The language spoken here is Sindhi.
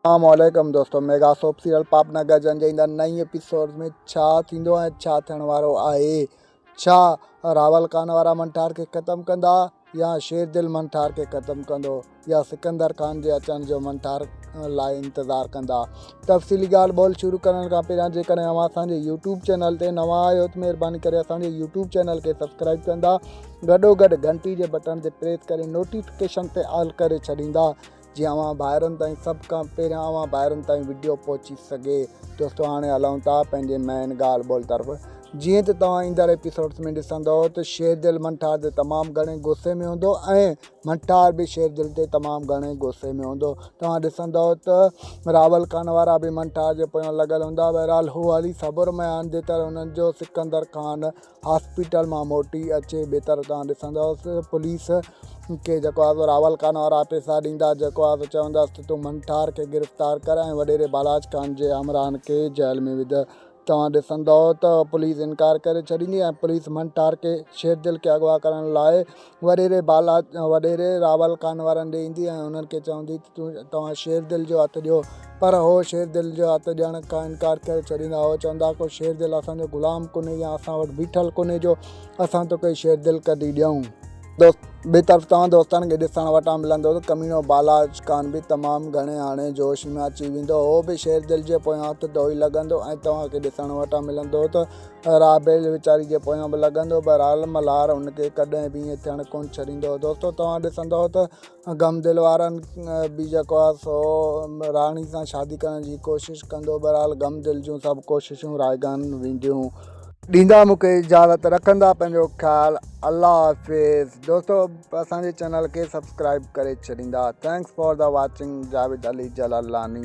اسلام عليڪم دوستو ميگا سوپ سيريل پاپ نه گرجن جي ايندڙ نئين ايپيسوڊ ۾ ڇا ٿيندو ۽ ڇا ٿيڻ وارو آهي ڇا راول خان وارا منٺار کي ختم ڪندا يا شير دل منٺار کي ختم ڪندو يا سڪندر خان جي اچڻ جو منٺار لاء انتظار ڪندا تفصيلي ڳالهه ٻولهه شروع ڪرڻ کان پهريان جيڪڏهن اوهان اسان جي يوٽيوب چينل تي نوان آهيو ته مهرباني ڪري اسان جي يوٽيوب چينل کي سبسڪرائب ڪندا گڏو گڏ گھنٽي جي بٽڻ تي پريس ڪري نوٽيفڪيشن تي آل ڪري ڇڏيندا جيئن اوهان ڀائرن تائين سڀ کان پهريان اوهان ڀائرن تائين وڊيو پهچي سگهي دوستو هاڻي هلون ٿا پنهنجي مين ڳالهه ٻولهه طرف جيئن ته توهان ايندڙ ايپيسوڊس ۾ ڏسندو ته شير دل منٺار تي تمام گهڻي غصي ۾ هوندو ۽ منٺار به شير دل تي تمام گهڻي غصي ۾ هوندو توهان ڏسندو ته راول خان وارا به منٺار جي پويان لڳل هوندا بهرحال هو هلي صبر ۾ آندي طرح هنن جو سڪندر خان هاسپيٽل مان موٽي اچي بيتر تان ڏسندس پوليس کي جيڪو آهي سو راول خان وارا پيسا ڏيندا جيڪو آهي سو چوندس ته تون منٺار کي گرفتار ڪر ۽ وڏيري بالاچ خان جي همراهن کي جيل ۾ وجهه توهان ڏسندؤ ته پوليس انڪار ڪري ڇڏيندي ۽ پوليس منٺار کي شيردل کي اغوا ڪرڻ لاء وڏيري بالا وڏيري راول ڪان وارن ڏي ايندي ۽ انهن کي چوندي ته تون توهان شير دل جو هٿ ڏيو پر هو شير دل جو هٿ ڏيڻ کان انڪار ڪري ڇڏيندا هو چوندا هئا ڪو شير دل اسان جو غلام ڪونهي يا اسان وٽ بيٺل ڪونهي جو اسان توکي شير دل ڪڍي ڏيون دوست ٻي طرف توهان دوستن کي ڏسڻ وٽان ملندو ته ڪميڻو بالا ڪان به تمام گهڻي هاڻي جوش ۾ اچي ويندو هو به شير دل جي پويان هٿ ڌوئي لڳندو ۽ توهان کي ڏسڻ وٽان ملندو ته رابيل ويچاري جي پويان به لڳندو، بهرحال ملهار ان کي ڪڏهن به ائين ٿيڻ ڪونه ڇڏيندو هو. دوستو توهان ڏسندؤ ته غم دل وارن به جيڪو آهي سو راڻي سان شادي ڪرڻ جي ڪوشش ڪندو، بهرحال غم دل جون سڀ ڪوششون رائگان وينديون. ڏيندا مون کي اجازت رکندا پنهنجو خيال الله حافظ دوستو اسان جي چينل کي سبسڪرائب ڪري ڇڏيندا thanks for the watching Javed Ali Jalalani.